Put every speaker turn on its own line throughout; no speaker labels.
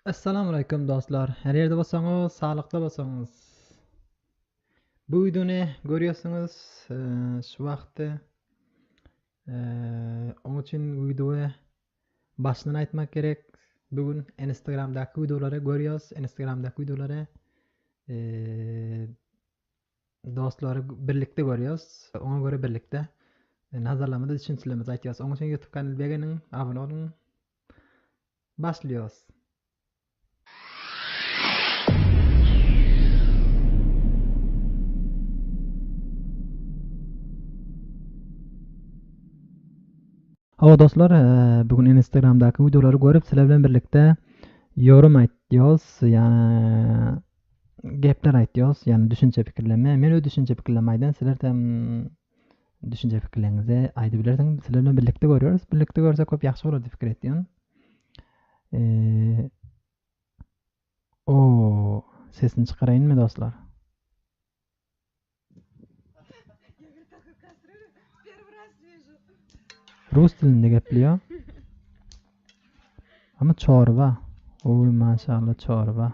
Essalamualeýkum dostlar! Her ýerde bolsaňyz, saglykda bolsaňyz! Bu wideony görýärsiňiz, şu wagtda oň üçin wideoýa başyndan aýtmak gerek. Bu gün Instagramdaky wideolary görýäs, Instagramdaky wideolary dostlary birlikde görýäs. Oňa görä birlikde nazarlamada düşünjelerimizi aýtýas. Oň üçin YouTube kanalyna begeniň, abone boluň. Başlyos. Hawa dostlar, bu gün Instagramdaky wideolary görüp sizler bilen birlikde ýorum aýtýos, ýa gepler aýtýos, ýa düşünje pikirleme. Men öz düşünje pikirleme aýdan, sizler hem düşünje pikirleriňizi aýdyp bilersiň. Sizler bilen birlikde görýäris. Birlikde görsek köp ýagşy bolar diýip pikir etdim. Eee O sesini çykaraýynmy dostlar? Rus dilinde gepliyor. Ama çorba. Oy maşallah çorba.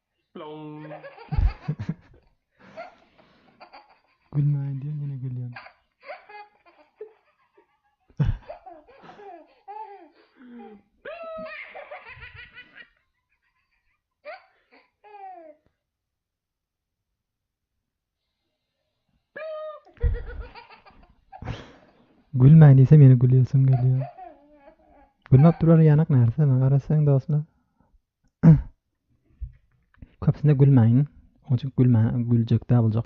Gülmäýin diýen ýene gülýän. Gülmäň diýsem ýene gülýäsim gelýär. Gülmäp duran ýanak närse men garaşsaň dostlar. Köpsüne gülmäň. Onuň üçin gülmä, güljek dä boljak.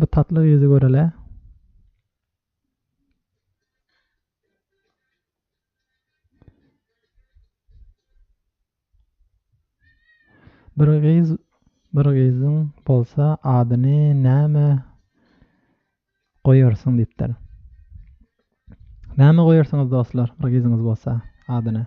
Bu tatly gyzy görele. Bir gyz bir gyzyň bolsa adyny näme goýarsyň diýipdir. Näme goýarsyňyz dostlar, bir gyzyňyz bolsa adyny?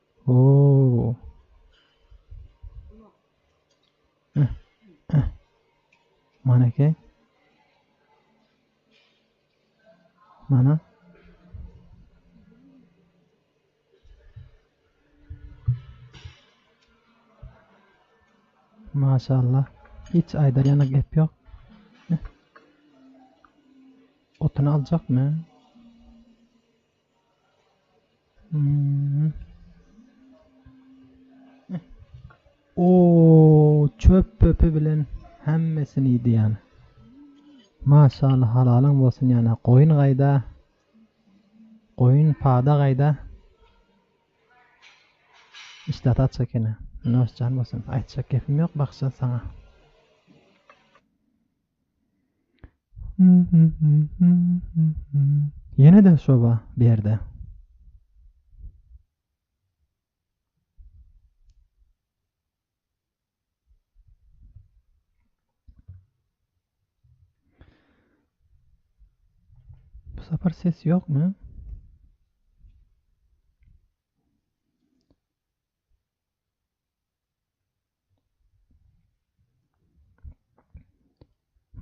Ooo. Maneke. Mana. Maşallah. Hiç ayda yana gep yok. Otunu alacak mı? Oow çöp pöpi bilen hemmesini iýdi ýan. Maşallah halalyň bolsun ýana. Goýun gaýda? Goýun pada gaýda? Işdä taç ekeni. Noşjan bolsun. Aýtjak gepim ýok bakja saňa. Ýene de şoba berde. Bu sapar ses ýokmy?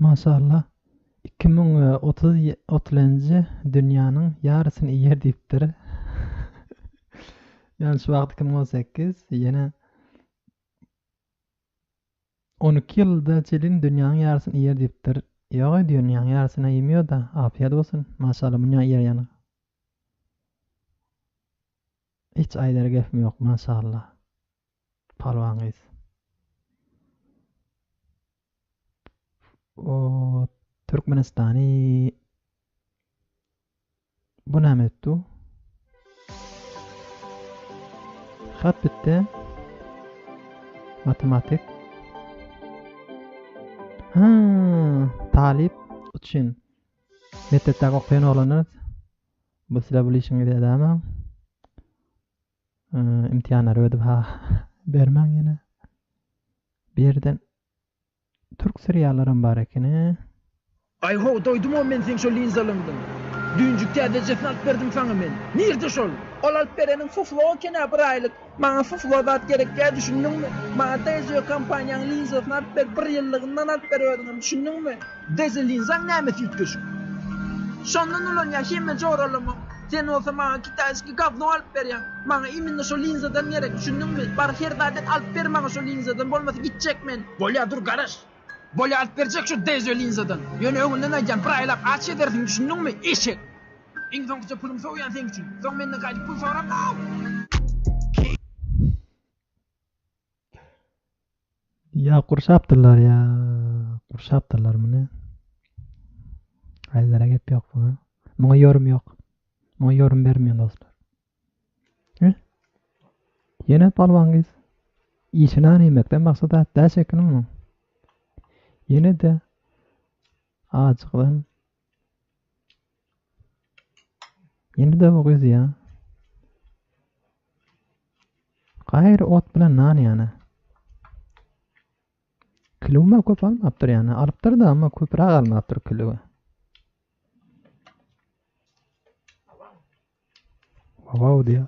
Maşallah iki müň we otuz otuzynjy dünýäniň ýarysyny iýer diýipdir. Ýani şu wagt iki müň on sekiz ýene on iki ýylda çelin dünýäniň ýarysyny iýer diýipdir. Ýoga dünýäň ýarysyna iýmiýoda, afiýet bolsun. Maşallah münýä iýer ýany. Hiç aýdar gepim ýok maşallah Palwan gyz. O Türkmenistany Bu näme etdi? Hat bitdi. Matematik. Ha, talyp üçin. Mekdepdäki okaýan oglanlar Bu size bul işiňizi edämäň. Imtihanlary ödüp ha bermäň ýene. Bu ýerden türk seriallaram bar ekeni. Aý ho, doýdumam men seň şo linzalyňdan. Düýnjik täzejesini alyp berdim saňa men. Nirde şol? Ol alyp bereniň fuflo eken-ä bir aýlyk. Maňa sus we zat gerekýär düşündiňmi? Maňa Dezio kompaniýaň linzasyny alyp ber bir ýyllygyndan alyp ber özüňem düşündiňmi? Dezio linzaň nämes üýtgeşik. Şondan ulanýar hemme joralama. Sen bolsa maňa kitaýski gawno alyp berýäň. Maňa iminne şo linzadan gerek düşündiňmi? Bar her zat et alyp ber maňa şo linzadan bolmasa gitjek men. Bolýar dur garaş. Bolýar alyp berjek şo Dezio linzadan. Ýöne öňünden aýdýan bir aýlap aç ýedersiň düşündiňmi? Eşek. Iň soňkyja pulum sowýan seň üçin. Soň menden gaýdyp pul sorap no! Ýa gurşapdyrlar ýa gurşapdyrlar muny. Aýlara gep ýok muňa. Muňa ýorum ýok. Muňa ýorum bermeýän dostlar. He? Ýene palwan gyz. Işini aýmekden maksat atda şekilmi? Ýene de acykdan Indi dawa gyzýa. Gaýry ot bilen nan ýana. Kilowma köp almapdyr ýana. Alypdyr da, amma köpräk almapdyr kilowy. Wow diýýär.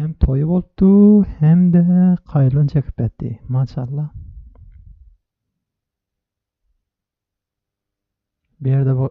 Hem toýy bolupdy hem-de kaýylyn çekip ýatdy. Maşallah. Bu ýerde bu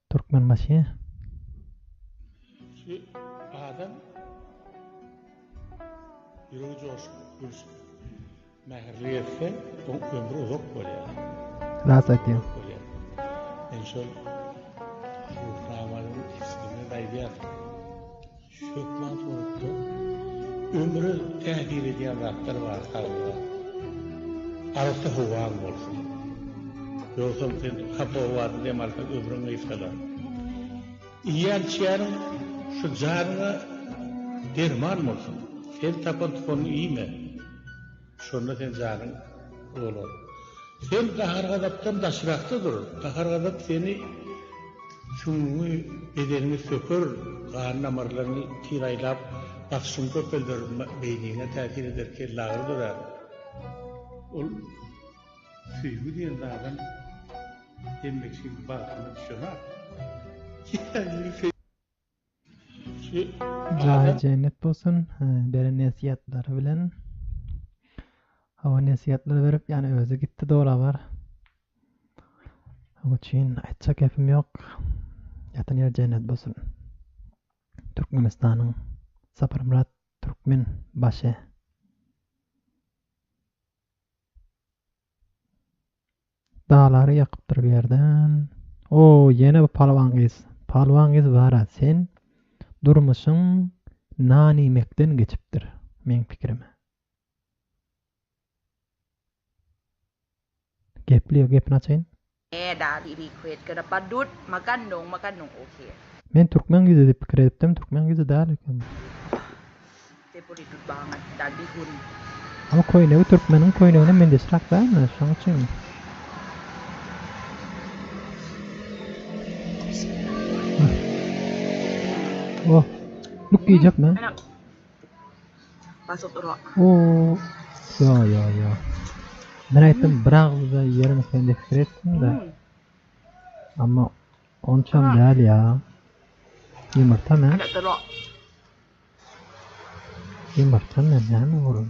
Türkmenbaşy. Şu adam ýüregi joşup, gülşüp, mähirli gezse, oň ömri uzak bolýar. Ras aýtýaň. Men şol Ruhnamanyň ismini aýdýan. Hökman suratda ömre täsir edýän zatlar bar saglyga. Arassa howaň bolsun. Ýogsam sen hapa howada dem alsaň ömrüň gysgalar. Iýýän içýäniň şu janyňa derman bolsun. Sen tapan tukanyňy iýme. Şonda sen janyň dolar. Sen gahar-gazapdan daşrakda dur. Gahar-gazap seni süňňüňi, bedeniňi söker, gan damarlaryňy kiraýlap, basyşyňy köpelder, beýniňe täsir eder, kellagyry dörär. Ol söýgi diýen zadam hemme kişiniň bagtyna düşenok. Jaýy jennet bolsun beren nesihatlary bilen. Hawa nesihatlar berip ýani özi gitdi dogry bar. Onuň üçin aýtjak gepim ýok. Ýatan ýeri jennet bolsun. Türkmenistanyň Saparmyrat Türkmen başy. Daglar ýakypdyr bir ýerden. O, ýene bu palwan gyz. Palwan gyz bara sen durmuşyň nan iýmekden geçipdir, meň pikirime. Gepli, gepini açaýyn. Eda bibi quit gonna ba dut ma gan nung ma gan nung ok. Men türkmen gyzy diýip pikir edipdim, türkmen gyzy däl eken. Te buri dut baňat da bi hun. Ama köýnegi türkmeniň köýnegine mendeşräk dälmi, şoň üçinmi? Oh, luk iýjekmi? Basyp dur ok. Yo yo yo. Men aýtdym bir agzyda ýerim sen diýip pikir etdim-de. Amma onçam däl ýa. Ýumurta men. Ýumurta men näme bolum?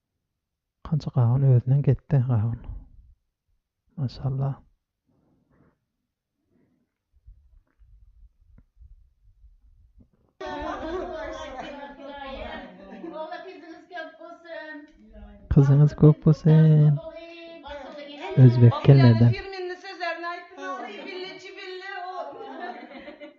Kança gawun özünden ketdi gawun. Maşallah. Gyzyňyz köp bolsun. Özbek gelmedi.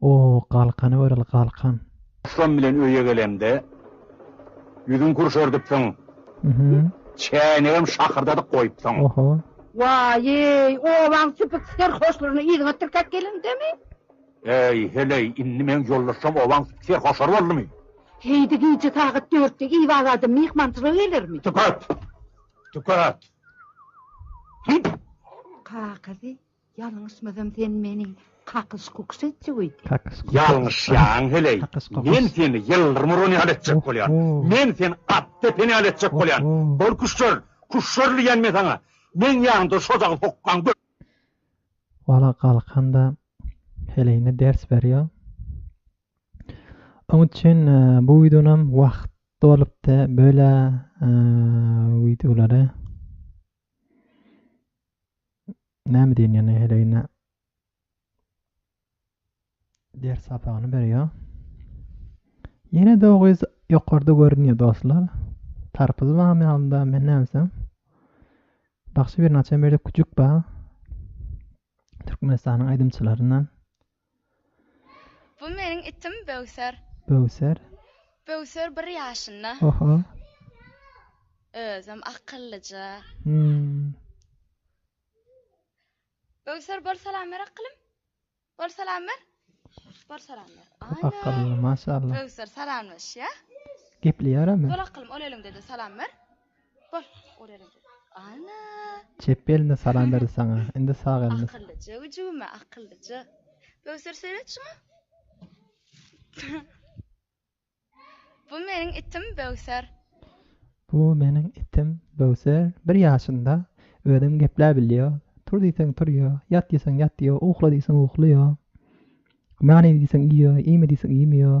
O, galkany göreli, galkan. Şon bilen öýe gelemde, ýüzüň kürşerdipsiň. Çäýnegem şakyrdadyp goýupsyň. Oho. Waý-eý, obaň süpük serhoşlaryny yzyňa tirkäp gelendemi? Äý, heleý, indi meň ýoldaşjam obaň süpük serhoşlary boldumy? Heý-de gije sagat dörtde Iwal adam myhmançylyga gelermi? Tüket! Tüket! Hüýt! Kakasy Ýalňyşmasam sen meni kakyş kukyş etjek öýdýäň. Ýalňyşýaň heleý. Men seni ýyldyrmyron ýaly etjek bolýan. Men seni at depen ýaly etjek bolýan. Bol küşşer. Küşşer diýýän men saňa. Meň ýanymda şojagy sokgaň gör. Wala galkanda heleýine ders berýär. Oň üçin bu wideonam wagt dolupdy. Böyle wideolary. Näme diýen ýene heleýine ders sapagyny berýär. Ýene de o gyz ýokarda görünýär dostlar. Tarpyzy bagam ýalynda men näbilsem. Bagşy bir naçe berip küçük ba. Türkmenistanyň aýdymçylaryndan. Bu meniň itim Böwser. Böwser. Böwser bir ýaşynda. Oho. Özem akyllyja. Hum. Böwser bor salam ber akylym. Bor salam ber. Bor salam ber. Ana. Akylly maşallah. Böwser salamlaşýa. Gepleýärem. Bor akylym ol eliňde de salam ber. Çep elinde salam berdi saňa. Indi sag elinde. Bu meniň itim Böwser. Bu meniň itim Böwser. Bir ýaşynda. Özem gepläp bilýär. Tur diýseň turýar. Ýat diýseň ýatýar. Ukla diýseň uklaýar. Nany iý diýseň iýýär. Iýme diýseň iýmeýär.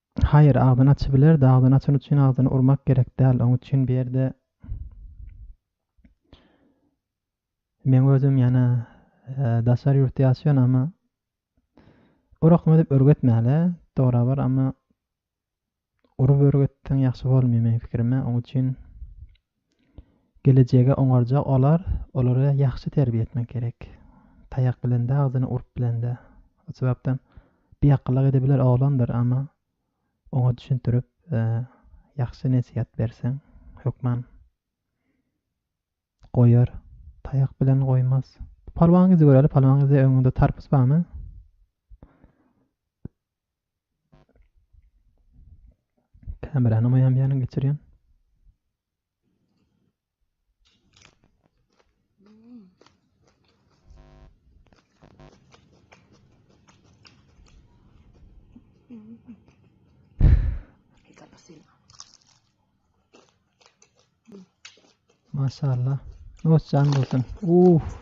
Haýyr, agzyny açybilerdi, agzyny açan üçin agzyny urmak gerek däl, oň üçin bu ýerde Meň özüm ýana daşary ýurtda ýaşaýan amma urakma dep örgetmäle torabar amma urup örgetseň ýagşy bolmýa meň pikirime oň üçin Gelejege oňarja olar, olary ýahşy terbiýe etmek gerek. Taýak bilen-de, agzyny urup bilen-de. O sebäpden biakyllak edebiler oglandyr, emma oňa düşündirip, ýahşy nesihat berseň, hökman goýar. Taýak bilen goýmaz. Palwan gyzy göräli, Palwan gyzy öňüňde tarpus barmy? Kamerany maýam ýanyň geçirýän. Maşallah. Hoş jan bolsun. Uff.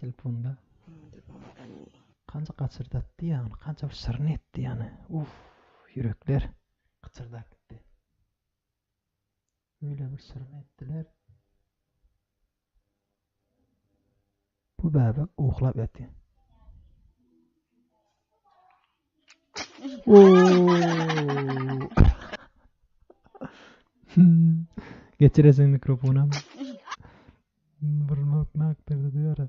Telefonda kança gaçyrdatdy ýany kança bir şirin etdi ýany uff ýürekler gyçyrdap gitdi öýle bir şirin etdiler. Bu bäbek uklap ýatýar. Geçiresin mikrofona. Burmak nak berdi diýara.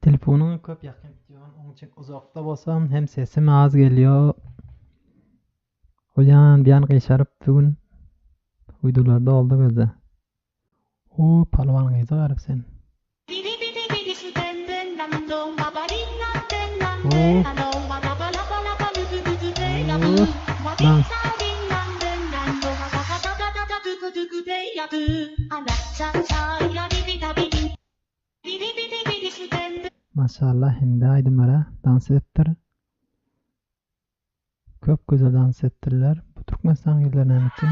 Telefonyňy köp ýakyn tutýan, oň üçin uzakda bolsam hem sesim az gelýo. Bu ýan bu ýan gyşaryp bu gün uýdularda oldy gözde. O palwan gyza garip sen. Ooh. Ooh. Dans. Maşallah indi aýdymlara dans edipdir. Köp gözel dans etdirler. Bu Türkmenistan gyzlar näme üçin?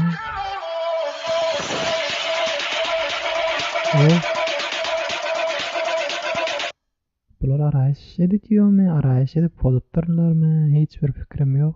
Ow. Bular araýyş editýomy, araýyş edip pozupdyrlarmy hiç bir pikirim ýok.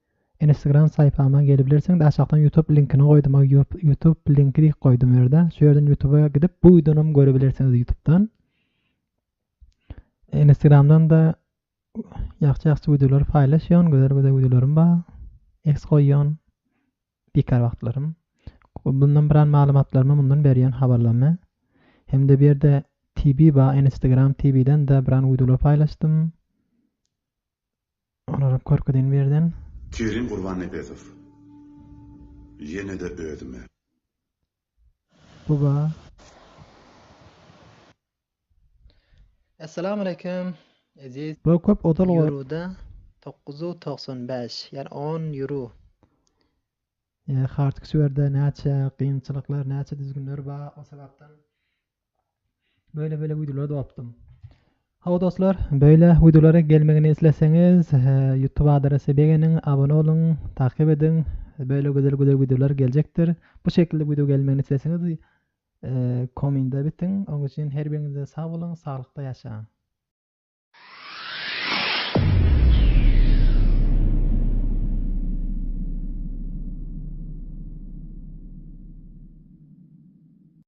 Instagram saýpama gelibilersiň de aşakdan ýutub linkini goýdum o ýutub linki diýip goýdum ýerde şu ýerden ýutuba gidip bu wideonam görebilersiňiz ýutubdan Instagramdan da ýagşy ýagşy wideolary paýlaşýan gözel gözel wideolarym bar eks goýýan bikar wagtlarym bundan bir an maglumatlarymy mundan berýän habarlarymy hem-de bu ýerde TV bar Instagram TV-den de bir an wideolar paýlaşdym Olaryp görkezin birden. Kerim Gurbannepesow ýene-de özüme. Bu ba. Essalamu aleýkum eziz. Bu köp ozal goýup. Ýuruda dokuz ýuz togsan bäş ýa on ýuru. Hardküswerde näçe gynçylyklar näçe düzgünler ba o sebapdan. Böyle böyle wideolar dopdum. Hawa dostlar, böyle wideolara gelmegini isleseňiz, YouTube adrese begeniň, abone oluň, takyp ediň. Böyle güzel güzel wideolar geljekdir. Bu şekilde video gelmegini isleseňiz, kominde bitiň. Oň üçin her biriňize sag boluň, saglykda ýaşaň.